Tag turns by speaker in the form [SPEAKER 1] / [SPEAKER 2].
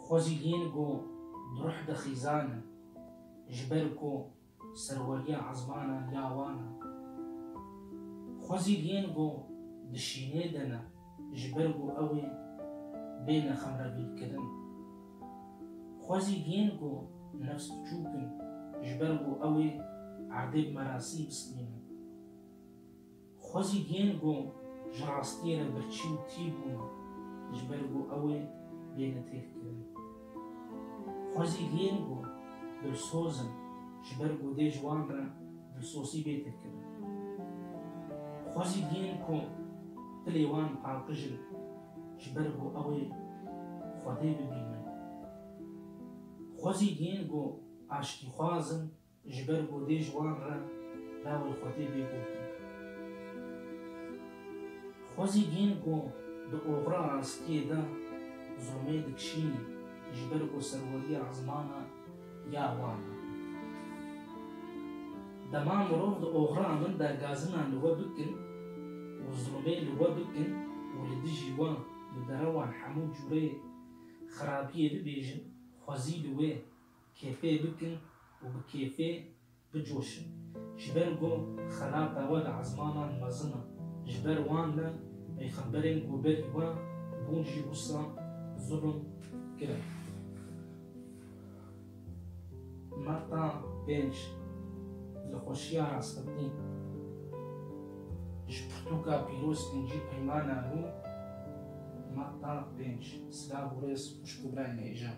[SPEAKER 1] Xwe zî hîn ku di ruh de xîzane, ji ber ku serweriya ezmanan ya wan e. Xwe zî hîn ku di şînê de ne, ji ber ku ew ê bêne xemrebîrkirin. Xwe zî hîn ku nefs piçûk in, ji ber ku ew ê erdê bi merasî bistînin. Xwezî yên ku ji rastiyê re birçî û tî bûn ji ber ku ew ê bêne têrkirin. Xwezî yên ku dilsoz in ji ber ku dê ji wan re dilsosî bê têrkirin. Xwezî yên ku dilê wan paqijin ji ber ku ew ê Xwedê bibînin. Xwezî yên ku aştîxwaz in Ji ber godê ji wan re lawê xwe tê bê gotin. Xwe zî dîn ku di oxira rastiyê de zûmê dikişînê ji ber ku serweriya ziman e ya wan e. Dema mirov di oxira min de gazinan li we bikin û zûmê li we bikin û li dijî wan bi derewan hemû cûreyê xirabiyê bibêjin, xwe zî li wê Kêfê bikin û bi kêfê bicoşin. Ji ber ku xelat e we li ezmanan mezin e. Ji ber wan ne peyxemberên ku berî we bûn jî wisa zulm kirin. Metta pênc, Li xweşiya rastextî ji pirtûka pîroz kincî peyma nabû Metta pênc, Silav û rêz xwişk û birayên êjan.